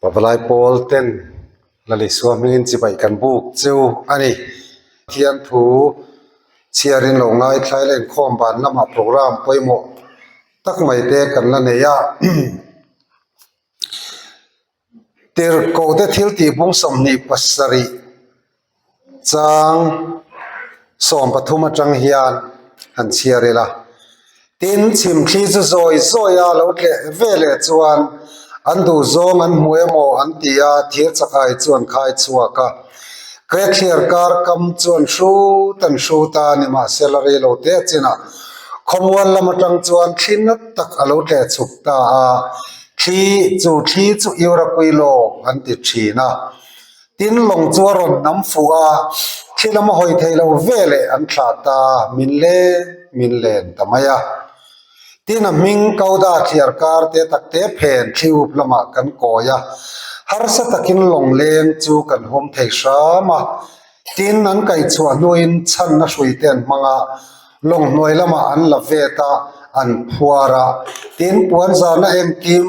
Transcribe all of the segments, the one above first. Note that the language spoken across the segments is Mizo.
Pabalai pawl ten la leh sual hming in chibai kan buk cheu a ni. Pathian thu chhiar in lo ngaithla la inkhawm ban lamah program pawimawh tak mai te kan la nei a. Tirhkohte thiltihbung sawmhnih pasarih. chang sawm pathum atang hian an chhiar ila tin chhim thli chu zawi zawi a lo tleh ve leh chuan an duh zawng an hmu emaw an ti a thir chakhai chu an khai chhuak a krethiar kar kam chuan hrut an hrut a ni mahse la rei lo te a chinah khawmual lam atang chuan thli nat tak a lo tleh chhuk ta a thli chu thli chu irawpui lawng an ti thin a. Tin, lawng chu a rawn nam fuh a, thil a mahawi thei lo ve leh an thlah ta, min le min len ta mai a. Tin, a hming Kauda thliar kar te tak te phen thli up lamah kan kawi a, harsa takin lawngleng chu kan hum thei hram a. Tin, an kai chhuah hnuin chhanna hrui te an hmang a, lawng hnuai lamah an la vet a, an phuar a. Tin, puan zana engkim.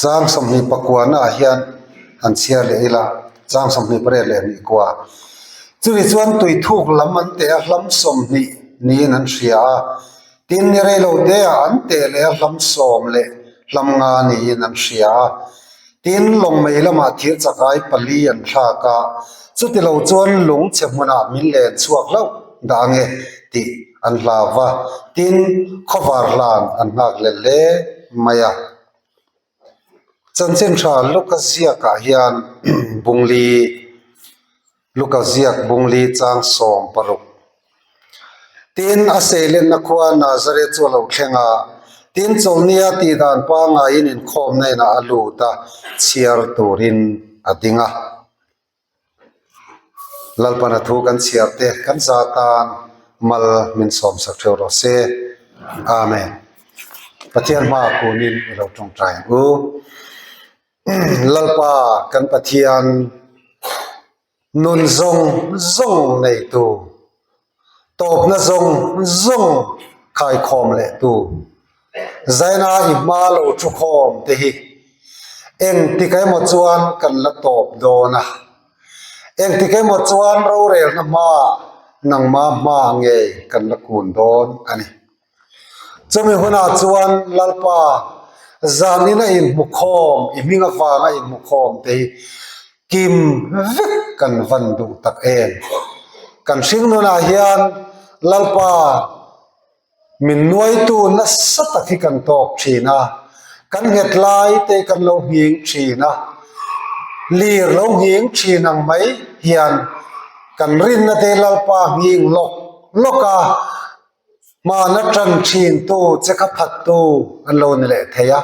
Chang sawmhnih pakuahna ah hian an chhiar leh ila chang sawmhnih pariat leh hnih kuah chumi chuan tui thuk lam an teh a hlam sawmhnih niin an hria a tin i reilo te ah an teh leh a hlam sawm leh hlam nga niin an hria a tin lawngmei lamah thir chakai pali an thlak a chutilo chuan lung chhe hmunah min len chhuak hlauh dah ange tih-- an hla va tin khawvar hlan an nghak let hle mai a chanchin tha luka ziak ah hian bungli luka ziak bungli chang sawm paruk tin a sei let na khua nazare chu a lo thleng a tin chawlhnia tih dan pangai in inkhawmna in ah a lut a chhiar tur in a ding a. Lalpana thu kan chhiar te kan za tan mal min sawm sak theu rawh se Amen Pathian hma kunin i lo tawngtai ang u Lalpa kan Pathian nun zawng zawng nei tu Tawpna zawng zawng khaikhawm leh tu Zaina i hma lo thu khawm te hi engtik emaw chuan kan la tawp dawn a. Engtik emaw chuan rorelna hmaah nangma hma nge kan la kun dawn a ni. Chumi hunah chuan Lalpa zanin a inhmu khawm, i hming avang a inhmu khawm te hi kim vek kan van duh tak em. Kan hring nunah hian Lalpa min nuaitu nasa tak hi kan tawk thin a, kan nghet lai te hi kan lo ngheng thin a, lir lo ngheng thin ang mai hian kan rinna te hi Lalpa ngheng lawk lawk a. Hmana ṭan ṭhintu che kha phattu an lo ni leh thei a,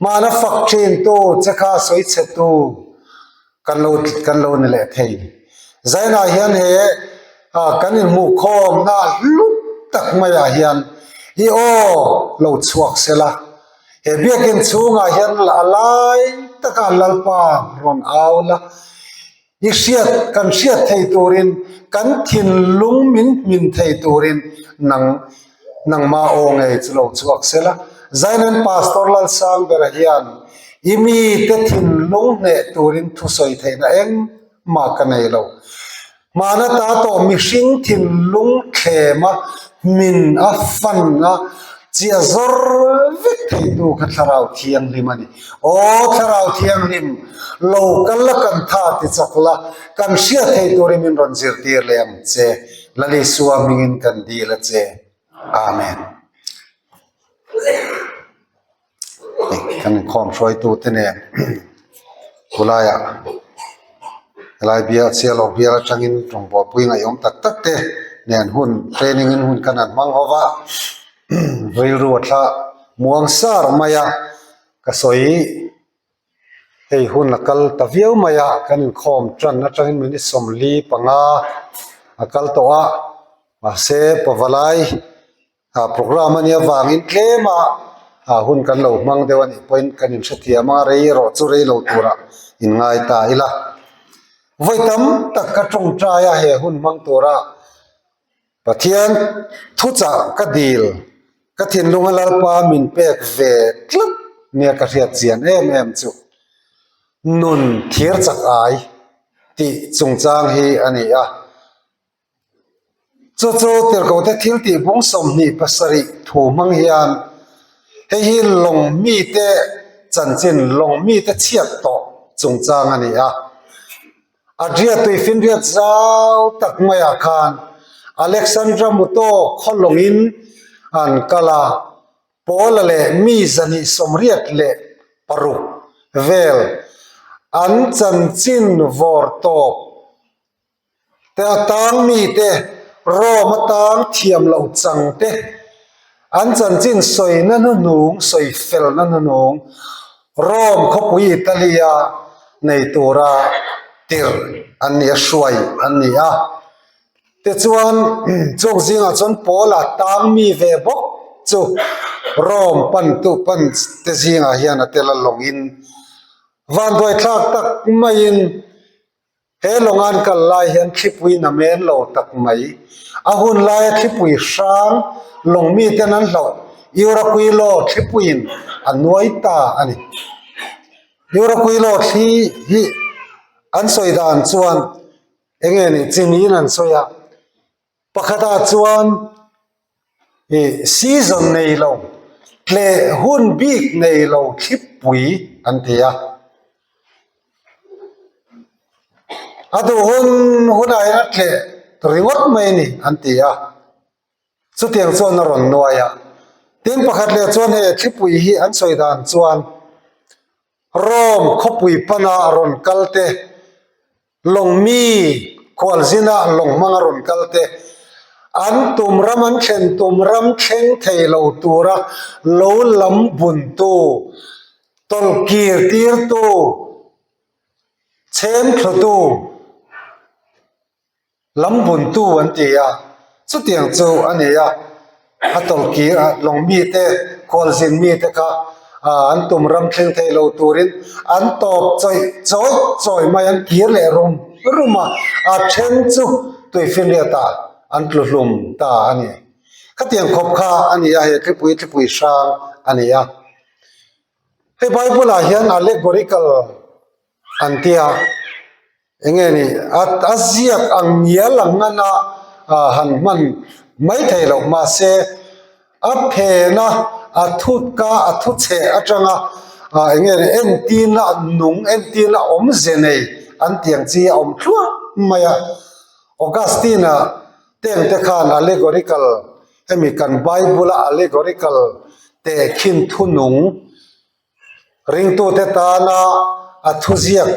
hmana fak ṭhintu che kha sawi chhetu kan lo kan lo ni leh thei. Zainah hian he kan inhmuhkhawmna hlu tak maiah hian i aw lo chhuak sela, he biakin chhungah hian a lai taka an lalpa rawn au la, I hriat kan hriat thei turin kan thinlung min hmin thei turin nang nangma aw nge chu lo chhuak sela zainen pastor lalsang bera hian i mi te thinlung hneh turin thusawi theihna eng mah ka nei lo hmana ta tawh mihring thinlung thlema hmin a fan a chiah zawr vek thei tu kha thlarau thianghlim a ni. Aw Thlarau Thianghlim, lo kal la kan tha ti chak la, kan hriat theih turin min rawn zirtir leh ang che. Lalisua hmingin kan dil a che. Amen. Kan inkhawm hruaitute nen khulaiah helai bial sialawk bial atangin rawng buaipui ngaihawm tak takte nen hun training in hun kan han hmang ho va. rilruah thla muang sar mai a ka sawi hei hun a kal ta viau mai a kan inkhawm tan atangin minute sawmli panga a kal tawh a mahse pava lai ah programme ania vangin tlema ah hun kan lo hmang deuh anih pawhin kan in hrethiam a reirawh chu rei lo tura in ngai ta ila vawi tam tak ka tawngtai a he hun hmang tura. Pathian, thuchah ka dil, ka thinlung a lalpa min pek ve tlat nia ka hriat chian em em chu nun thir chak ai tih chungchang hi a ni a. Chu chu tirhkohte thil tih bung sawmhnih pasarih thu hmang hian hei hi lawng mite chanchin lawng mite chhiat tawh chungchang a ni a. A hriattui finriat zau tak maiah khan Alexandra Muto khaw lawngin an kal a, Paula leh mi zahnih sawmriat leh paruk vel an chanchin vawr tawp te, a tang mite, Rome atang thiam loh changte, An chanchin sawina hnunung, sawi felna hnunung, Rome khawpui Italia nei tura tir an nih a, hruai an ni a. Te chuan chuk zingah chuan Paula tang mi ve bawk chu Rome pantu pan te zingah hian a tel a lawngin vanduaithlak tak maiin, He lawngan kal lai hian thlipui na men lo tak mai. A hun laia thlipui hrang lawng miten an hlauh Iurakui law thlipuiin a nuai ta a ni. Iurakui law thli hi an sawi dan chuan eng nge ni chi niin an sawi a. Pakhata chuan season nei lo tleh hun bik nei lo thlipui an ti a. A duh hun hunah hian a tleh ringawt mai a ni an ti a. Chutiang chuan a rawn nuai a. Tin pakhat leh chuan hei thlipui hi an sawi dan chuan. Rome khawpui pana rawn kal te, lawngmi khualzina lawng hmanga rawn kal te, an tum ram an thlen tum ram thleng thei lo tura lo lam bun tu, tawlhkir tir tu, chhem thlu tu, Lam buntu an ti a, chutiang chu a ni a, a tawlhkir ah lawng mite, khualzin mite kha an tum ram thleng thei lo turin an tawp chawih chawih chawih mai, an kir leh rum rum a, a then chu tui finriat ah an tlu hlum ta a ni. Khatiang khawp kha a ni a, he tlipui tlipui hrang a ni a. Hei Bible ah hian allegorical an ti a, eng nge ni a ziak ang nia lang a na han hman mai thei loh mahse a phen a a thutka a thuchheh atanga eng nge ni en tin a nung en tin a awm ze nei an tiang chi a awm thluah mai a. Augustine a teng te khan allegorical hemi kan bible a allegorical tehkhin thunung, Ringtute tana a thuziak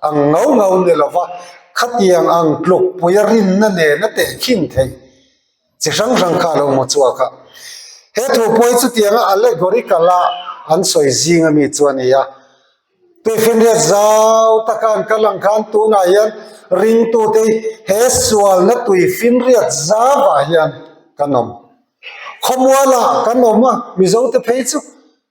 ang ngau ngau ni lo va, khatiang ang tluk puia rinna nen a teh khim thei. Chi hrang hrang kha a lo hmu chhuak a. He thu pawi chutianga allegorical-a an sawi zing ami chu a nia. Tuifinriat zau taka an kal ang khan tunah hian ringtutei he sualna tuifinriat zava hian kan awm. Khawmuala kan awm a, Mizote phei chu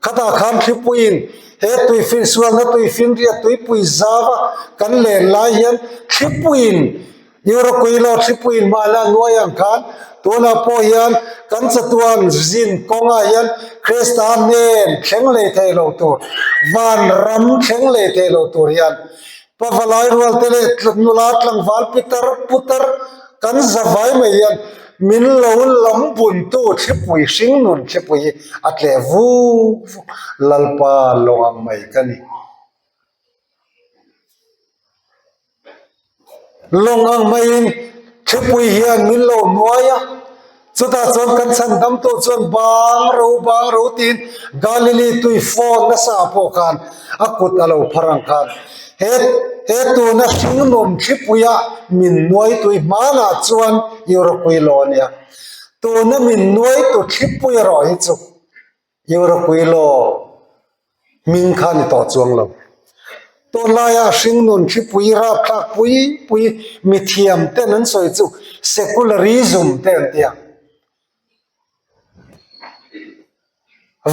Khata khan thlipuiin he tui finsualna, tui finriat, tuipui zava kan len lai hian thlipuiin Euroquilo thlipuiin hmana nuai ang khan tunah pawh hian kan chatuan zin kawnga hian Krista hnen thleng leh thei lo tur, van ram thleng leh thei lo tur hian Pavalai rualte leh nula tlangval pitar putar kan za vai mai hian min lo lam buntu thlipui hring nun thlipui hi a tleh vuk vuk. Lalpa lawng ang mai ka ni. Lawng ang maiin thlipui hian min lo nuai a. Chutah chuan kan chhan damtu chuan bang ro bang ro tiin Galilee tui fawn nasa pawh khan a kut a lo phar ang khan. He he tuna hringnun hripuia min nuai tui hmanah chuan i rawkui law a nia. Tuna min nuai tu thlipui erawh hi chu Hniurapuii law hming kha ni tawh chuang lo. Tunlaia hringnun hripui rapthlak pui pui mithiam ten an sawi chu secularism te an ti a.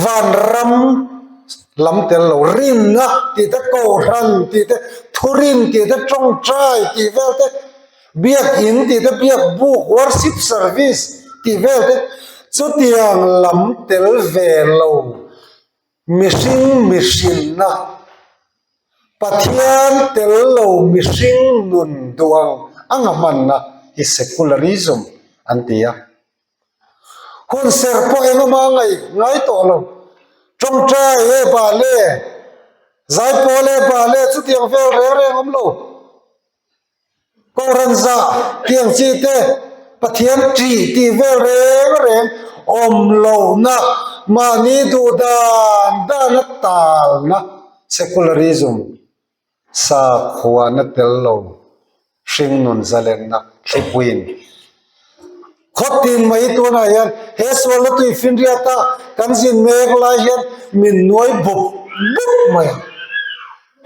Vanram lam tel lo, rinna tih te, Kohhran tih te, Thurin tih te, Tawngtai tih vel te, Biakin tih te biak buk worship service tih vel te chutiang lam tel ve lo mihring mihrinna Pathian tel lo mihring nun duh ang anga hmanna hi secularism an ti a. Hun ser pawh eng emaw a ngaih ngai tawh lo. Tawngtai e Bahle, Zaipawl e Bahle chutiang vel reng reng awm lo. Kawrenzah tiang chi te Pathian ṭi ti vel reng reng awm lohna mahni duh dan dana talna secularism sakhuana tel lo hringnun zalenna thlipuiin. khaw tin mai tunah hian he Sualnatui Finriata kan zin mek lai hian min nuai bup bup mai a,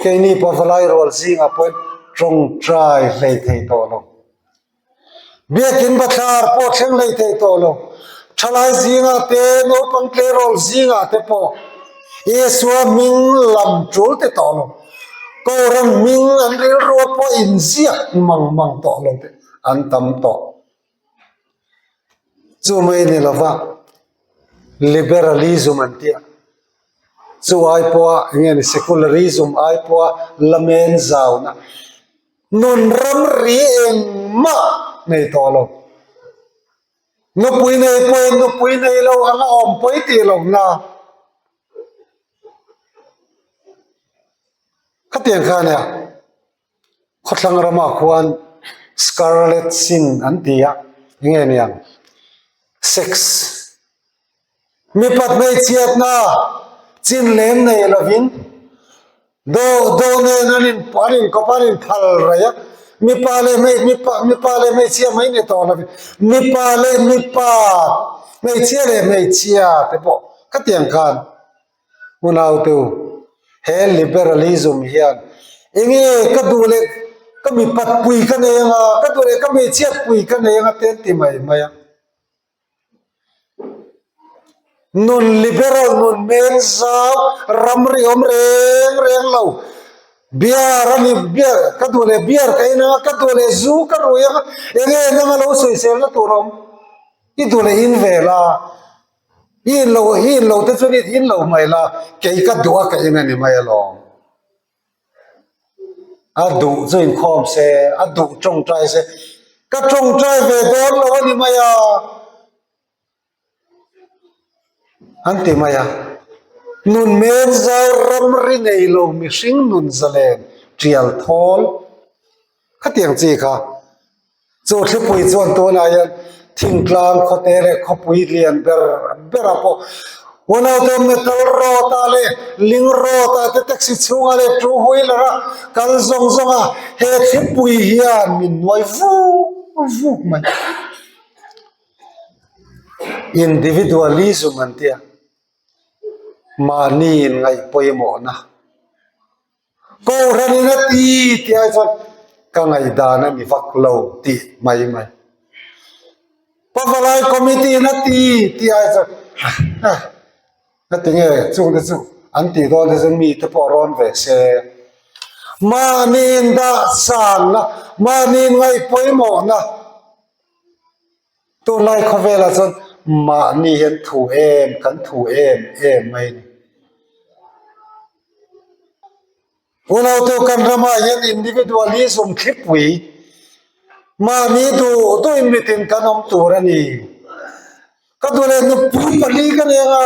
keini pawh vawlai rual zing ah pawhin tawngtai hlei thei tawh lo, biakin bathlar pawh thleng hlei thei tawh lo, thalai zing ah te naupang tleirawl zing ah te pawh Isua hming lam tul teh tawh lo, Kawlram hming an rilru a pawh inziak mang mang tawh lo teh. an tam tawh. Chu mai ni lova liberalism an tia. Chu ai pawha nge ni secularism ai pawha lamen zauna nun ram ri eng ma nei tawh lo. Nupui nei pawhin nupui nei lo anga awm pawih tih lo na. Khatiang khania Khawthlang rama khuan scarlet sin an ti a, eng nge ni ang? Sex. Mipat hmeichhiatna chin lem nei lovin do do nen an in an in kawp an in phal raih a, mipa leh hmei mipa mipa leh hmeichhia mai ni tawh lovin mipa leh mipa hmeichhia leh hmeichhia te pawh khatiang khan. Unaute-u, he liberalism hian eng nge ka duh leh ka mi patpui ka nei anga, ka duh leh ka mi chhiatpui ka nei anga te an ti mai mai a. Nun liberal nun hmel zau ram ri awm reng reng lo, beer a ni beer ka duh leh beer ka en anga, ka duh leh zu ka ruih anga, eng nge nang a lo sawi sel na tur a awm? I duh leh in vel a, Hi in lo hi in lo te chu ni thin lo hmai la kei ka duh a ka in a ni mai alawm a duh chu in khawm se a duh tawng trai se ka tawng trai ve dawn lo a ni mai a an ti mai a nun men zau ram ri nei lo mihring nun zalen tial thawl Khatiang chi kha chu thlipui chuan tunah hian thingtlang khawte leh khawpui lian ber berah pawh unaute metal rod ah leh ling rod ah te taxi chhunga leh two wheeler a kal zawng zawng a, he thlipui hian min nuai vuk vuk mai individualism an tia mahni in ngaihpawimawhna. Kohhranina ti ti ai chuan ka ngaidan a ni vak lo tih mai mai. Pavalai committee na ti ti ai chuan ka ti nge chute chu an ti dawn hi chuan mite pawh a rawn ve se. Mahni in dahsan na, mahni in ngaihpawimawhna Tunlai khawvelah chuan mahni hian thu em kan thu em em mai a ni. Unaute kan rama hian individualism thlipui mahni duh duh in mitin kan awm tur a ni. Ka duh leh nupui pali ka nen a.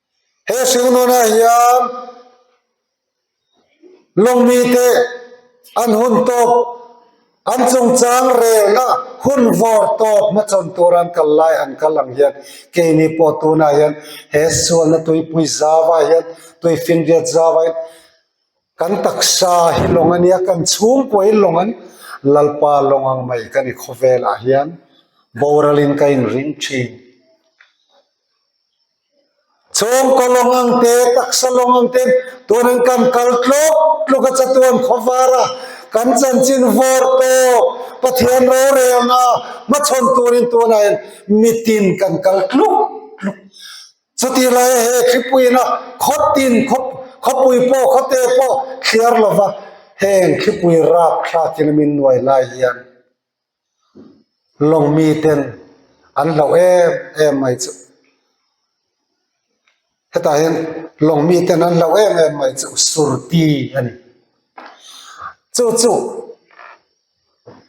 He hringnunah hian lawngmite an hun tawp, an chungchang relna hun vawr tawp hmachawn tura an kal lai ang kal ang hian keini pawh tunah hian he sualna tuipui zava hian tui finriat zava in kan taksa hi lawng a nia, kan chhungkua hi lawng an Lalpa lawng ang mai ka ni khawvelah hian boral in ka inring thin. Chhawngkaw Lawng-ang te, taksa Lawng-ang te turin kan kal tluk tluk a, chatuan khawvar a kan chanchin vawr tawk, Pathian rorei anga hmachhawn turin tunah hian mitin kan kal tluk tluk. Chutih laia he thlipuina khawtin khawpui pawh khawte pawh thliar lova heng thlipui rapthlakin min nuai lai hian, lawng mi ten an hlauh em em mai chu hetah hian lawng mi ten an hlauh em em mai chu suruti a ni chu chu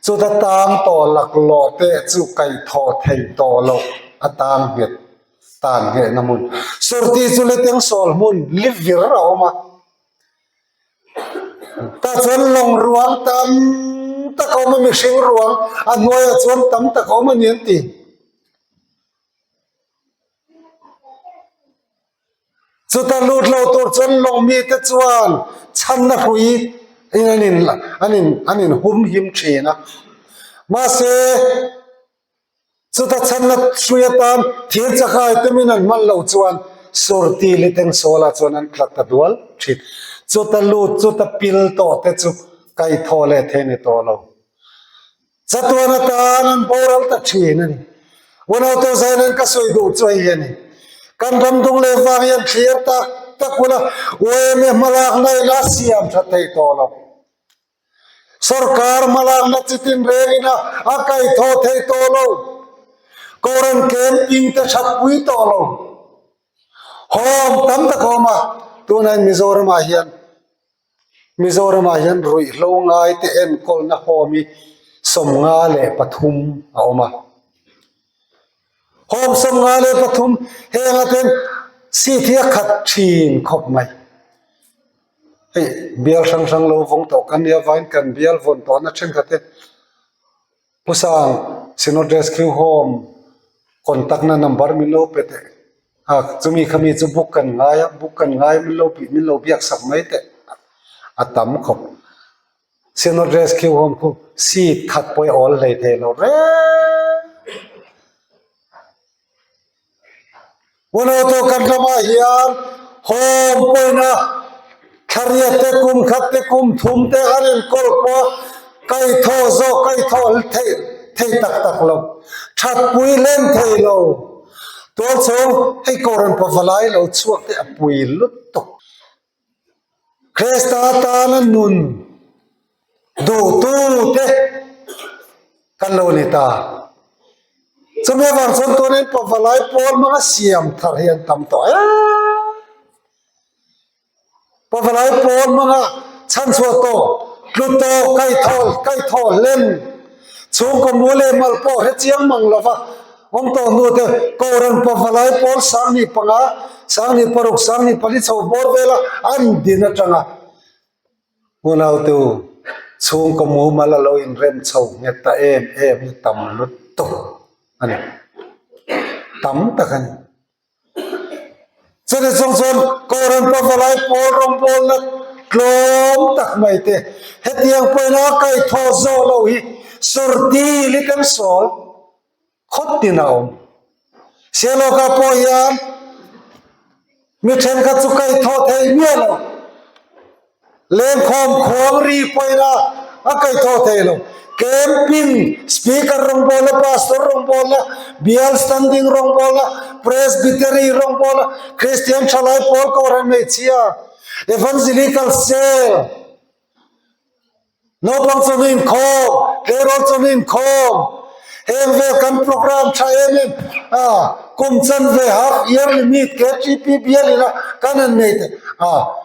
chuta tang tawh laklawh te chu kaihthawh thei tawh loh a tang nghet tan ngheh na hmun suruti chu litiang sawl hmun li vir a awm a. tah chuan lawng ruang tam tak a awm a mihring ruang a hnuaiah chuan tam tak a awm a ni ang ti chuta lut lo tur chuan lawng mite chuan chhanna hui in an in an in an in hum him thin a mahse-- Chuta chhanna hrui atan thir chakhawi tumin an hman lo chuan Surti li teng Sawla chuan an tla ta dual thit. Chuta lut chuta pil tawh te chu kai thaw leh thei ni tawh lo. Chatuan atan an boral ta thin a ni. Unaute zaina in ka sawi duh chu a hi a ni. Kan ramdung leh vang hian thlir tak tak huna UMA hmalakna in a siam tha thei tawh lo. Sorkar hmalakna chi tin rengin a a kaithaw thei tawh lo, Koran kem in te that pui tawh lo, hawm tam tak a awm a, tunah Mizoramah hian Mizoramah hian ruihhlo ngai te enkawlna hawm hi sawm nga leh pathum a awm a. Home sawm nga leh pathum heng aten seat hi a khat thin khawp mai hei bial hrang hrang lo vawng tawh kan nia vain kan bial vawn tawh na thenkhat hi pu sang Synod Rescue Home contact na number min lo pe teh a chumi kha mi chu book kan ngai a book kan ngai min lo pi min lo biak sak mai teh a tam khawp. Sino rescue home khu seat khat pawh i awl hlei theih lo reng. Huanautu kan ramah hian home pawina thlariat te kum khat te kum thum te an in call pawh a kai thaw zawk kai thaw theih theih tak tak lo. Thatpui hleng thei lo. Tualchhung hei kawr an pavalai lo chhuak te a pui lutuk. Kresta atana nun duhtute kan lo ni ta. Chumi a vang chuan tunin pavalai pawl hmanga siam thar hi an tam tawh em em. Pavalai pawl hmanga chhan chhuah tawh, tlu tawh, kaithaw, kaithaw hlen, chhungkaw mu leh mal pawh hre chiang mang lova, Awm tawh hnu te Koran pavalai pawl sangni panga, sangni paruk, sangni pali chho bawr vela an din atanga unaute-u chhungkaw mumal a lo inrem chho nghet ta em em hi tam lutuk a ni. Tam tak a ni. Chuti chung chuan kawren pava lai pawl rawngbawlna tlawm tak mai te, hetiang pawn a kai thaw zawh lo hi sawr dil i kan sawl khawt nin a awm. Seihlawkah pawh hian mi thenkhat chu kai thaw thei miah lo. Lengkhawm khuang ri puaina a kaih thaw thei lo. Camping, Speaker rawngbawlna, Pastor rawngbawlna, Bial Standing rawngbawlna, Presbytery rawngbawlna, Kristian thalai pawl kawhhran hmeichhia, Evangelical Cell, Naupang chawnu inkhawm, Tleirawl chawnu inkhawm, heng vel kan program tha em em a, kum chanve half yearly meet KTP bialina kan han nei te a.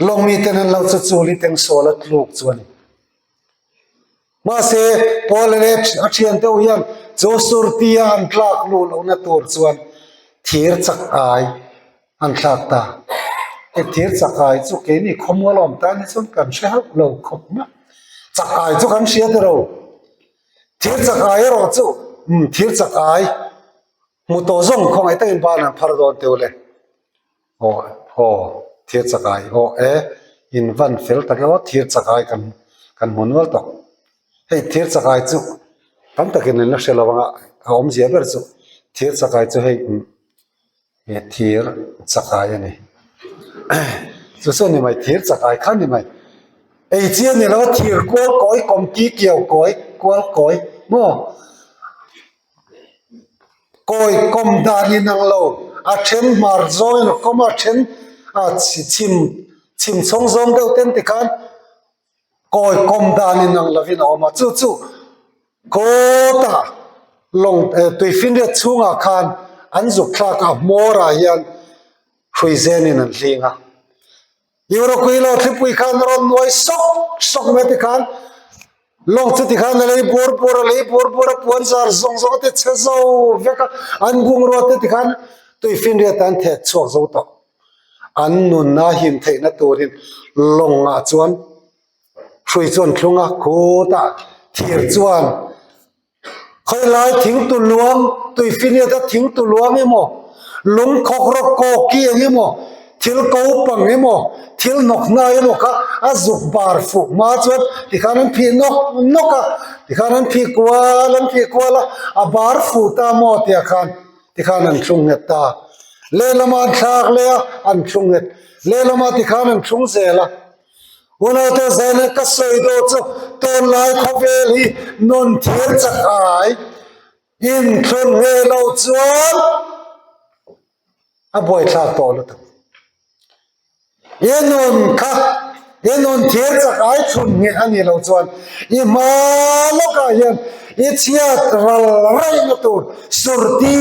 Lawng mi ten an lo chu chu Liteng Sawl a tluk chu a ni. Mahse, Paul leh a thian deuh hian chu surtia an tlak luh lohna tur chuan thir chak ai an thlak ta. Hei thir chak ai chu keini khawmual awm tan hi chuan kan hre hauh lo khawp mai. Chak ai chu kan hria tawh lo. Thir chak ai erawh chu thir chak ai hmu tawh zawng khawngaih takin banah an phar dawn teuh le. Awh aw Thirchakai awh e in van fel tak e aw Thirchakai kan kan hmu nual tawh hei Thirchakai chu tam takin min la hre lo ang a a awmzia ber chu Thirchakai chu hei umm he thir chakai a ni chu chu ni mai Thirchakai kha ni mai ei chiang ni lo thir kual kawi kawmti kiau kawi kual kawi maw. Kawi kawm dan in ang lo, a then hmar zawngin a kawm a, a then chhim chhawng zawng deuh te an ti khan kawi kawm dan in ang lovin a awm a, chu chu kawtah lawng tui finriat chhungah khan an zuk thlak a, a hmawrah hian hrui zenin an hling a. Euroqueen lo thlipui khan a rawn nuai sawk sawk mai te khan lawng chu tikhan a lei bur bur a lei bur bur a puan zar zawng zawng a te chhe zo vek a an bungrua te tikhan tui finriat an thet chhuak zo tawh an nunna him theihna turin lawng ah chuan hrui chu an thlung a khutah thir chuan-- Khawilaia thing tu luang, Tuifineta thing tu luang emaw, lung khawk rawk kawki ang emaw, thil ko pang emaw, thil hnawk hnai emaw kha a zuk bar fuh hma chuan tikhan an phih nawk nawk a, tikhan an phih kual an phih kual a, a bar fuh ta maw tih ah khan tikhan an thlung nghet ta. Lehlamah an thlak leh a, an thlung nghet. Lehlamah tikhan an thlung zel a. Unaute zaina ka sawi daw chu tunlai khawvel hi nun thir chak ai in thlun ve lo chuan a buaithlak tawh lutuk i nun kha i nun thir chak ai thlun nge a nih loh chuan i hma lawkah hian i chhiat ral raih na tur surti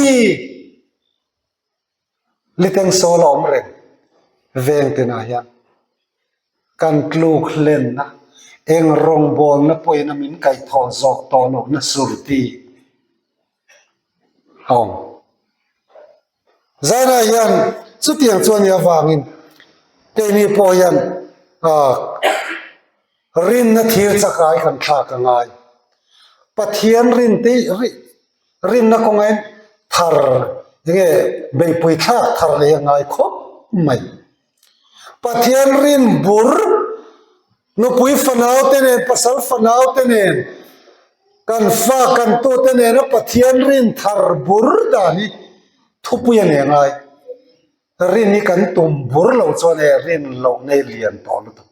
Ni teng sawl a awm reng veng ten ah hian kan tluk hlenna eng rawngbawlna pawhin a min kaih thaw zawk tawh loh na surti a awm. Zainah hian chutiang chuan i avangin keini pawh hian rinna thir chakah i kan thlak a ngai. Pathian rin te rih Rinna kawnga in thar nge beipui thlak thar leh a ngai khawp mai. Pathian rin bur nupui fanau te nen, pasal fanau te nen, kan fa kan tu te nena Pathian rin thar bur dan hi thupui a nih a ngai. Rin hi kan tum bur lo chuan hei rin loh ngei lian tawh lutuk.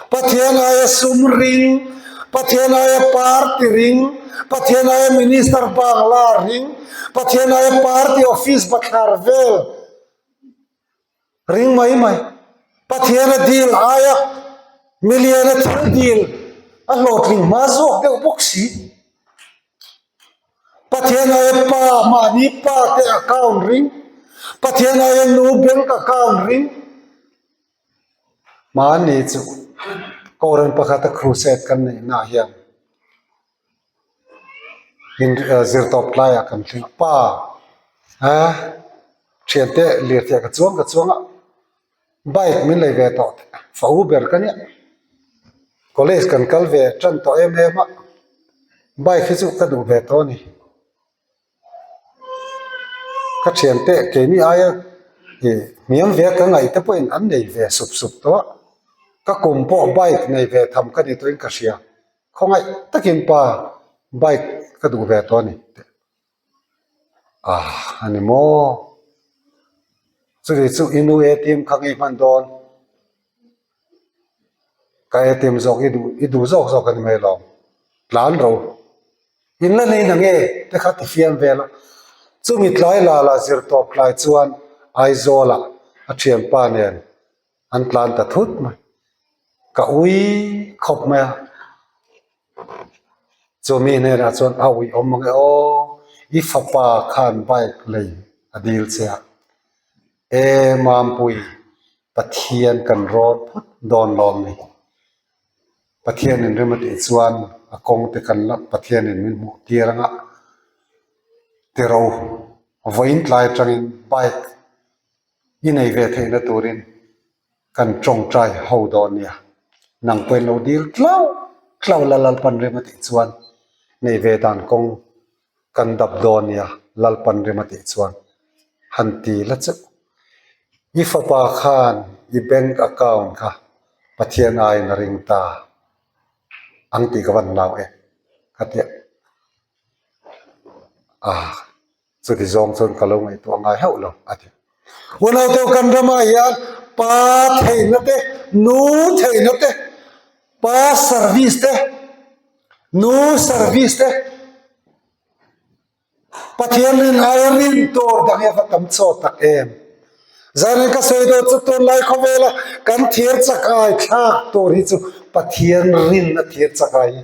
Pathian aia sum ring, Pathian aia party ring, Pathian aia minister bak la ring, Pathian aia party office va thlar vel ring mai mai. Pathian a dil aia million a thil dil a hlawhtling hma zawk deuh bawk si. Pathian aia pa mahni pa te account ring, Pathian aia nu bank account ring, mahni chu Koran pakhata crusade kan neih na hian in zir tawp tlai ah kan tling pa a thian teh lirthei ka chuang ka chuang a. bike min lei ve tawh teh fa u ber ka nia college kan kal ve tan tawh em em a bike hi chu ka duh ve tawh a ni ka thian teh keini aia ih hmiam viak ka ngaih te pawhin an nei ve sup sup tawh a ka kum pawh bike nei ve tham ka ni tawhin ka hria khawngaih takin pa bike ka duh ve tawh a ni tih. ah a ni maw chutih chu i nu atm kha ngei hman dawn ka atm zawk i duh i duh zawk zawk a ni mai lo tlan ro in la neih na nge te kha ti fiam vel a chumi tlai lala zir tawp tlai chuan Aizawl ah a thianpa nen an tlan ta thut mai ka ui khawp mai a chu mi hnenah chuan a ui awm ang e aw i fapa khan bike lei a dil che a e Mampuii Pathian kan rawt phawt dawn lawm ni Pathian in rim atih chuan a kawngte kan la Pathian in min hmuh tir anga tiro vawiin tlai atangin bike -- I nei ve theihna turin kan tawngtai ho dawn nia, nang pawhin lo dil tlau tlau la Lalpan rema tih chuan nei ve dan kawng kan dap dawn nia Lalpan rema tih chuan han ti la chauh. I fapa khan i bank account kha Pathian aiin a ring ta ang tih ka van hlau em ka ti a. Chuti zawng chuan ka lo ngaihtuah ngai hauh lo, a ti. Hu naute kan ramah hian pa theihna te, nu theihna te, pa service te, nu service te, Pathian rin aia rin tur dang hian va tam chaw tak em. Zan in ka sawi dawn chu tunlai khawvela kan thir chak ai thlak tur hi chu Pathian rin a thir chak ai hi.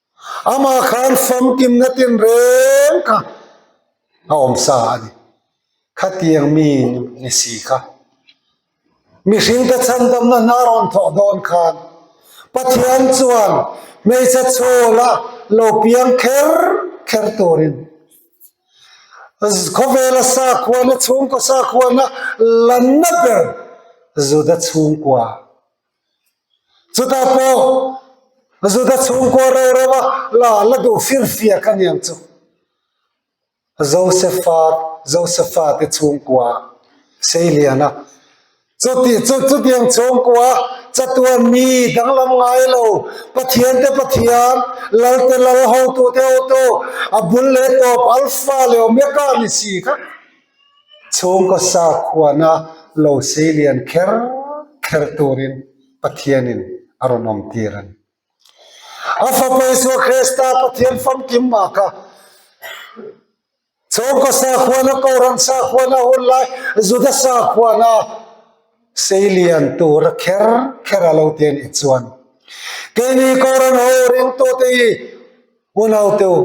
Amah khan famkimna tinreng kha a awm sa a ni. Khatiang mi ni si kha mihring te chhandamna hna rawn thawh dawn khan Pathian chuan hmeichhe chhawla lo piang kher kher turin khawvela sakhuana, chhungkaw sakhuana lanna ber Juda chhungkua Chuta pawh Zuda chhungkua rau raua la la duh fir fiak a niang chu Josephat Josephat i chhungkua Seiliana chuti chu chutiang chhungkua chatuan mi danglam ngai lo Pathian te Pathian lal te lal hotu te hotu a bul leh tawp alfa leh omega ni si kha. Chhungkaw sakhuana lo sei lian kher kher turin Pathianin a rawn awmtir a ni. A Fapa Isua Krista Pathian famkim ah kha Chhungkaw sakhuana, Kohhran sakhuana, hun lai Juda sakhuana sei lian tur a kher kher a lo ti a nih chuan keini Kohhran ho ringtute hi, Hunauteu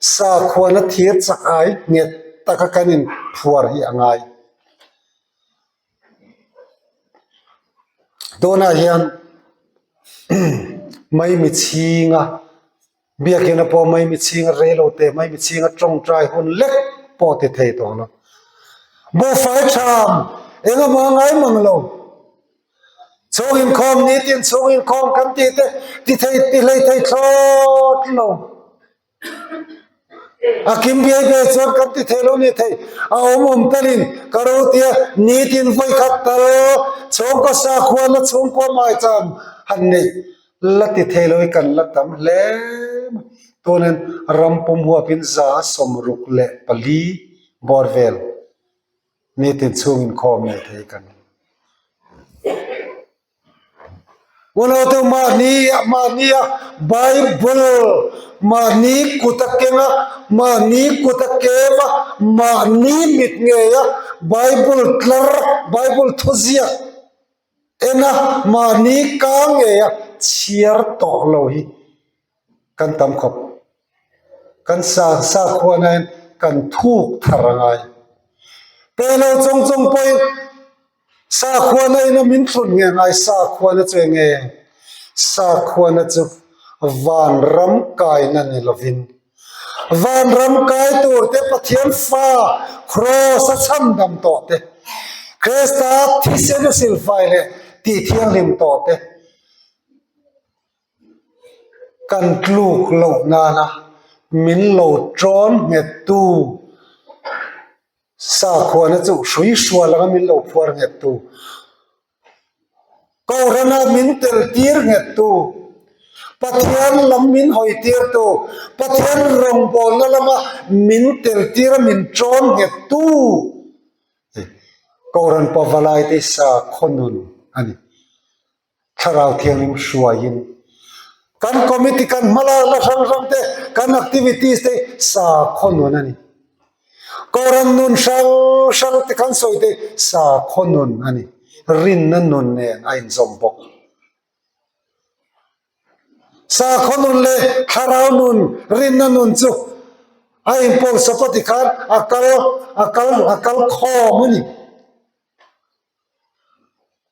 sakhuana thir chak ai nghet taka kan in phuar hi a ngai. Tunah hian mai mi chhinga biakina pawh mai mi chhinga rei lo te mai mi chhinga tawngtai hun lek pawh ti thei tawh a la. Buhfai tham engemaw a ngai mang lo. Chhunginkhawm nitin chhunginkhawm kan tih te tithei tihlei thei thlawt lo a kim biai biai chuan kan ti thei lo ni thei a awm awm talin ka ro tia nitin vawi khat tal chhawngkaw sa khuan a chhungkaw mai chuan han nei la ti thei lo i kan la tam hle mai tunin ram pum huapin za sawm ruk leh pali bawr vel. Mi tichhung inkhawm nei te hi ka ni. Unaute mahni mahni a Bible mahni kut a keng a, mahni kut a kem a, mahni mit ngei a, Bible tlar, Bible thuziak. Ena mahni kang ngeia chhiar tawh lo hi kan tam khawp. Kan sang sakhua naiin kan thuk thar a ngai. Pelo chawng chawng pawhin sakhuana ina min thlun nge ngai sakhuana chu eng nge? Sakhuana chu vanram kaina ni lovin. Vanram kaitur te Pathian fa Kraws a chham dam tawh te, Kresta thisen a silfai leh tih thianghlim tawh te kan tluk loh nana min lo tawn nghettu sakhuana chu hrui hrual anga min lo phuar nghettu. Kohhran a min tel tir nghettu, Pathian lam min hawi tirtu, Pathian rawngbawlna lama min tel tir a min ṭawn nghettu hi Kohhran Pavalaite sa khawnun a ni. Thlarau thianghlim hruaiin kan committee, kan hmalakna hrang hrangte, kan activities te hi sa khawnun a ni. Kawrrawn nun hrang hrang te khan sawi te sakhaw nun a ni, rinna nun nen a inzawm bawk. Sakhaw nun leh thlarau nun, rinna nun chu a inpawlh sapa tikhan a kal a kal a kal khawm a ni.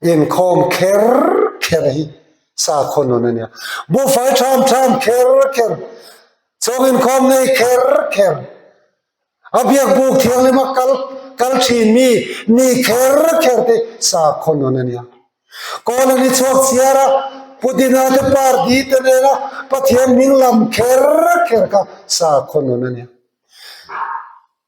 Inkhawm kher kher hi sa khaw nun a nia. Buhfai ṭham ṭham kher kher, chhawng inkhawm ngei kher kher. A biak buk thianglima kal kal ṭhin mi ni kher kher te sa khaw nun a nia. Kawl an i chhuak chhiar a, Pudina te par di te nena Pathian hming lam kher kher kha sa khaw nun a nia.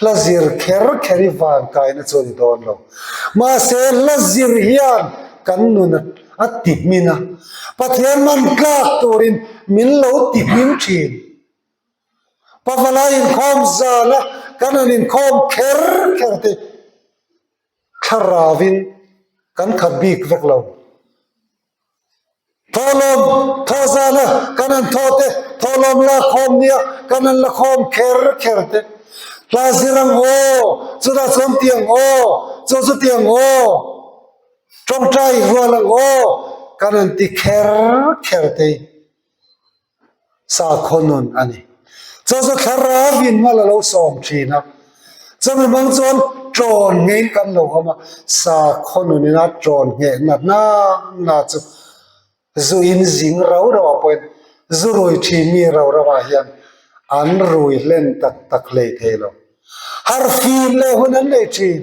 Hla zir kher kher i van kaina chu a ni dawn lo. Mahse, hla zir hian kan nun a ti hmin a. Pathian man tlak turin min lo ti hmin thin. Pa Vala inkhawm zana kan han inkhawm kher kher te thlarau in kan khat bik vek lo. Thawhlawm thaw zana kan han thaw te, thawhlawm la khawm nia kan han la khawm kher kher te. Tla zir ang haw, chutah chuan awm tih ang haw, chu chu tih ang haw, tawngtai rual ang haw kan han ti kher kher te. Sakhawnun a ni. Chawza thlar a vin nghal a lo sawm thin a, chumi hmang chuan tawn ngei kan lo awm a, Sakhawnun ina tawn ngheh na hna hna chu zu in zing rau rau ah pawhin zu rui thi mi rau rau ah hian an rui hlen tak tak hlei thei lo. Harfim leh hun an nei thin.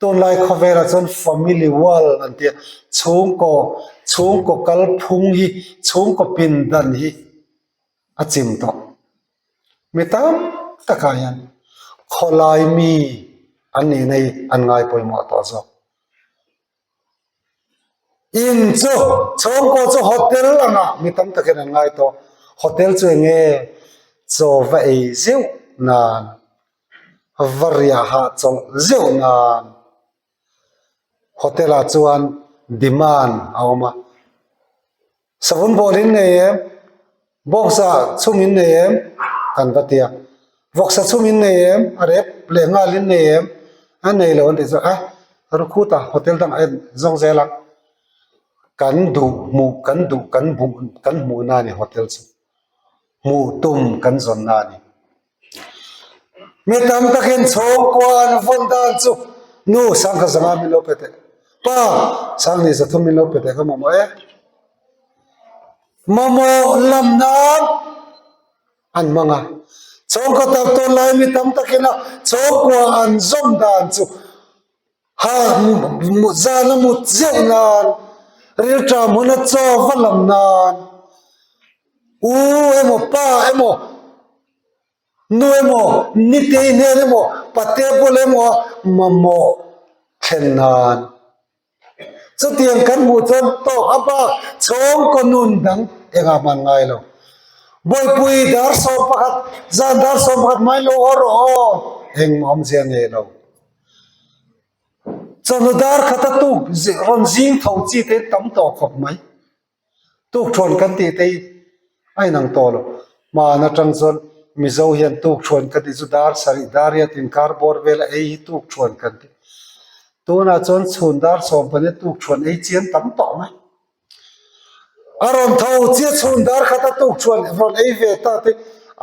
Tunlai khawvelah chuan family wall an ti a, chhungkaw chhungkaw kalphung hi chhungkaw pindan hi a chim tawh. Mi tam takah hian khawlai mi an nih na hi an ngaipawimawh tawh zawk. In chu chhawng pawh chu hotel anga mi tam takin an ngai tawh hotel chu eng nge chaw va ei zeuh nan va riah hah chawlh zeuh nan hotel ah chuan demand a awm a. Savun bawlin nei em? Box ah chungin nei em? kan va ti a, Box ah chungin nei em? a rep leh ngalin nei em? a nei lo an tih chuan ah Rukhut a hotel dang a en zawng zel a, kan duh hmuh kan duh kan hmuh kan hmuhna a ni hotel chu, hmuh tum kan zawnna a ni. mi tam takin chhawngkua an vawn dan chu nu sangkhazawnga min lo pe teh pa sanghnih thum min lo pe teh ka mamawh e mamawh lam nan an hmang a chhawngkaw tak tawn lai mi tam takin a chhawngkua an zawm dan chu. Ha mut zan a mut zeuh nan rilṭa hmun a chaw va lam nan u emaw pa emaw nu emaw nite nen emaw pate pawlh emaw mamawh thlen nan chutiang kan hmuh chuan tawk a bak chhawng kaw nun dang eng a hman ngai lo bawihpui dar sawm pakhat zan dar sawm pakhat hmailo aw rawh aw engmah awmzia nei lo. Chawhnu dar khat a tuk rawn zing tho chi te tam tawh khawp mai. Tukṭhuan kan tih te hi a inang tawh lo. Hmahan aṭang chuan Mizo hian tukṭhuan ka tih chu dar sarih dar ria tiin kar bawr vela ei hi tukṭhuan kan tih. Tunah chuan chhun dar sawm pahnih ah tukṭhuan ei chian tam tawh mai. A rawn tho chiah chhun dar khat a tukṭhuan rawn ei ve ta te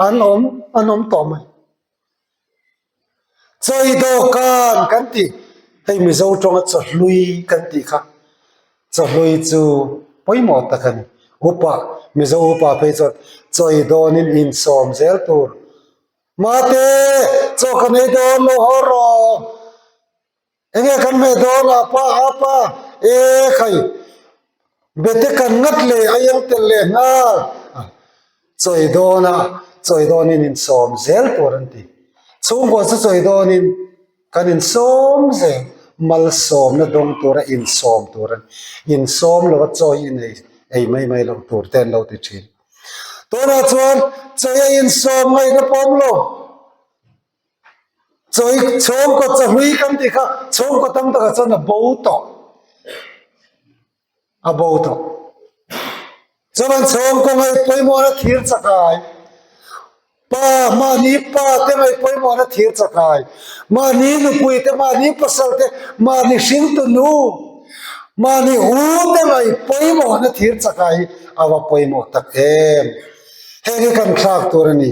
an awm an awm tawh mai. Chawi dawhkan kan tih hei Mizo tawnga chawhlui kan tih kha chawhlui chu pawimawh tak a ni. Upa Mizo upa phei chuan chawi dawnin insawm zel tur Mate chaw ka nei dawn lo haw rawh. Enge kan hme dawn a pa a pa e khai bete kan ngat le a yeng tel le hna chawi dawn a chawi dawn in in sawm zel tur an ti chhungkaw chu chawi dawn in kan in sawm zel mal sawm na dawng tur a in sawm tur a ni in sawm lo a chawi in ei ei mai mai loh tur te an lo ti thin tunah chuan chawi a in sawm ngaihna pawm lo. Chawi chhawngkaw chawhlui kan tih kha chhawngkaw tam takah chuan a bo tawh a bo tawh chuan an chhawng kaw ngaih pawimawhna thir chakai pa mahni pate ngaih pawimawhna thir chakai mahni nupui te mahni pasal te mahni hringtunu mahni u te ngaih pawimawhna thir chakai hi a va pawimawh tak em heng hi kan thlak tur a ni.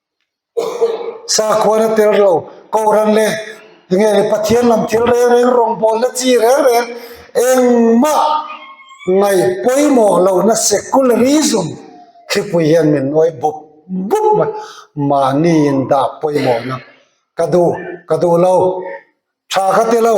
Sakhuana tel rawh, Kohhran leh nge Pathian lam thil reng reng rawngbawlna chi reng reng engmah ngaih pawimawh lohna secularism thlipui hian min uai bup bup mai mahniin dah pawimawhna ka duh ka duh lo tha ka ti lo.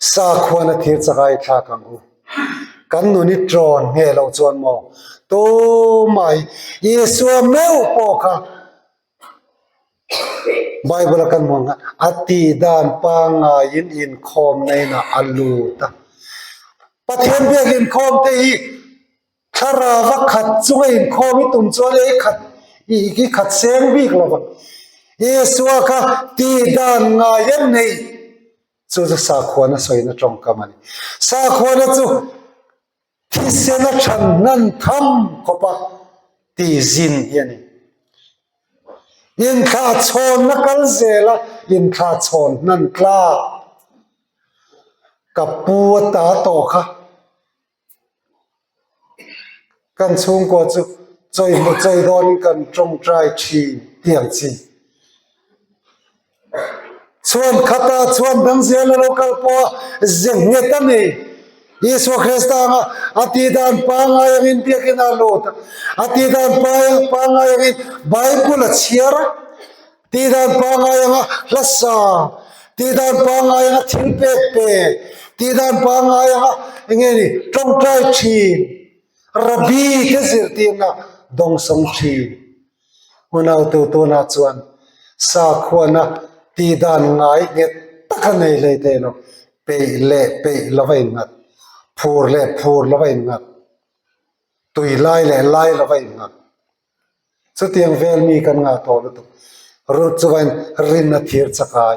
Sakhuana thir chaka i thlak ang u. Kan nun i tlawn nghe lo chuan maw? Tumai Isua meuh pawh kha Bible a kan hmuh ang kha a tihdan pangaiin inkhawm nainah a lut a. Pathian biak inkhawmte hi thlarava khat chunga inkhawm i tum chuan i khat i khat seng bik lo vang. Isua kha tihdan ngai a nei. Chu chu sakhuana sawina tawngkam a ni. Sakhuana chu thisena chhan hnan tham khawpa tihzin hi a ni. Inthlahchhawnna kal zela inthlahchhawn hnan tlak ka pu a ta tawh kha Kan chhungkaw chu chawihmawh chei dawnin kan tawngtai thin tih ang chi. Chhuan khata chhuan dang zia la lo kal pawha ze nghet a ni. Isua Krista anga a tidan pangngai angin biakina a lut a. A tidan pangngai angin Bible a chhiar a. Tih dan pangngai anga hlasa, tih dan pangngai anga thil pek pek, tih dan pangngai anga eng nge ni tawngtai thin, Rabi te zirtirna dawng sawng thin. Unaute tunah chuan sakhuana tih dan ngai nghet taka nei hlei te emaw peih leh peih lova innghat, phur leh phur lova innghat, tui lai leh lai lova innghat. Chutiang vel mi kan ngah tawh lutuk. Ruth chuan rin a thir chak ai,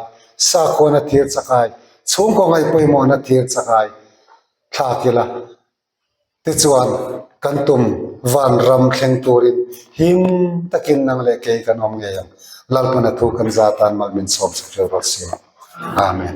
sakhuan a thir chak ai, chhungkaw ngaihpawimawhna a thir chak ai. Thlak ila tichuan kan tum van ram thleng turin him takin nang leh kei kan awm ngei ang. Lalpana thu kan za tan mal min sawm chhuk ṭeuh rual si. Amen.